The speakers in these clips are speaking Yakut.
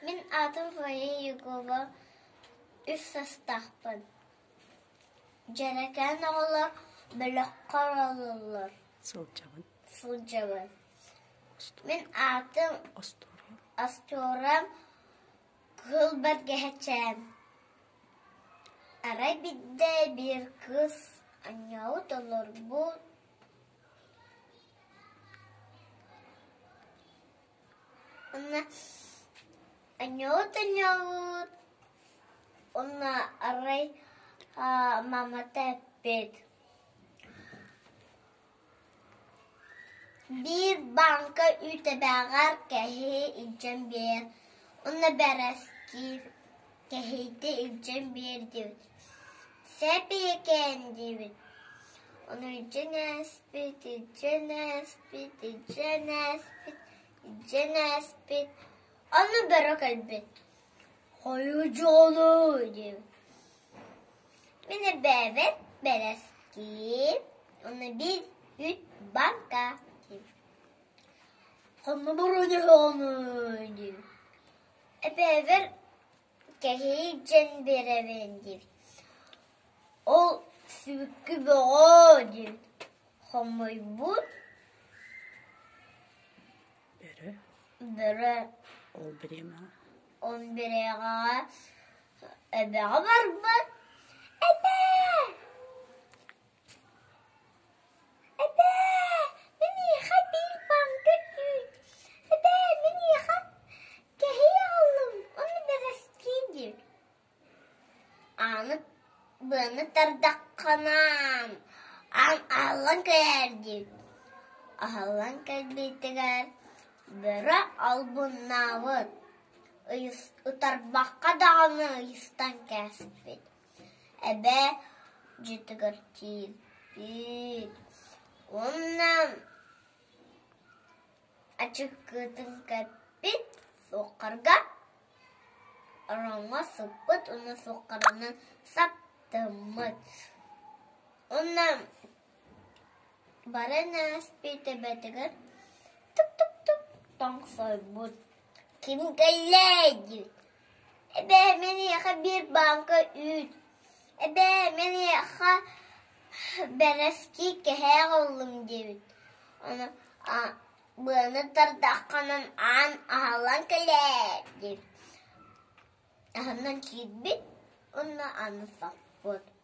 Мин аатым Фоя Егова үс састаахпын. Дьэрэкээн оҕолор бөлөххө ороллоллор. Сылдьабын. Сылдьабын. Мин аатым Остуоруйам. Остуоруйам, кыыл бэргэһэчээн. Арай биирдэ биир кыыс аньаабыт олорбут Уонна аньоот аньоот уонна арай мамата эппит: биир бааҥка үүтэбээҕэр кэһии илдьэн биэр уонна бэрэскиир Кэһиитэ илдьэн биэрдибит, сээпэйэкээн диибит, ону илдьэн ээспит, илдьэн ээспит, илдьэн ээспит, илдьэн ээспит, ону бөрө кэлбит. Хойудьоолуу диибит. Мин эбээбэт бэрэскиим, ону бир үт банка диибит. Хоммобуруунуһоону диибит. Эбээбэр кэһии дьэн биэрэбин диир, ол сүбүккү бөҕөө диэн хомойбут бөрө он бириэҕэҕэ эбэҕэ барбыт этэ Быаны тардахханаан аан ааллан кэлээр дии аһыллан кэлбитигэр бөрө албыннаабыт утарбакка даҕаны ыйыстан кээспит Эбээ дьиэтэ кэрчиир уонна ачыккытын кэппит суоххарга ороҥҥо сыппыт уонна суоххаранан саптыммыт. Уонна бары нааспит эбэтигэр тук-тук-тук тоҥсойбут. Ким кэллэй диэбит Эбээ мэниэхэ биир бааҥка үүт, эбээ мэниэхэ бэрэский кэһээ холлум диэбит, ону быаны тардаххынан аан аһыллан кэлээр диэбит, аһынан киирбит уонна аны саппыт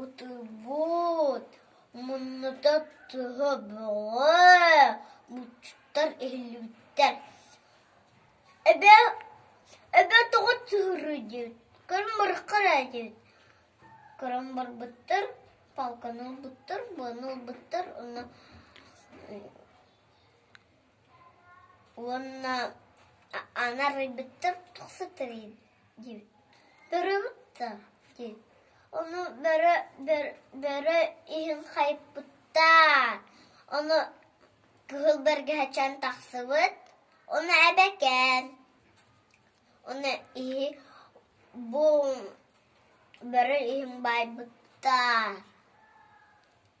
Утуйбут муннута туһа бөҕө муччуттар иһиллибиттэр эбээ тоҕо сыһыарыйдыт, көрөн бараххараайдыт көрөн барбыттар палканы ылбыттар буону ылбыттар уонна Уонна аны арыйбыттар тахса тэрийин диибит. Барыабыт даа диэн. Ону бары бары иһин хайыппыттар. Ону кыһыл бэргэһэчээн тахсыбыт. Ону эбэкээн. Ону иһи бу бары иһин баайбыттар.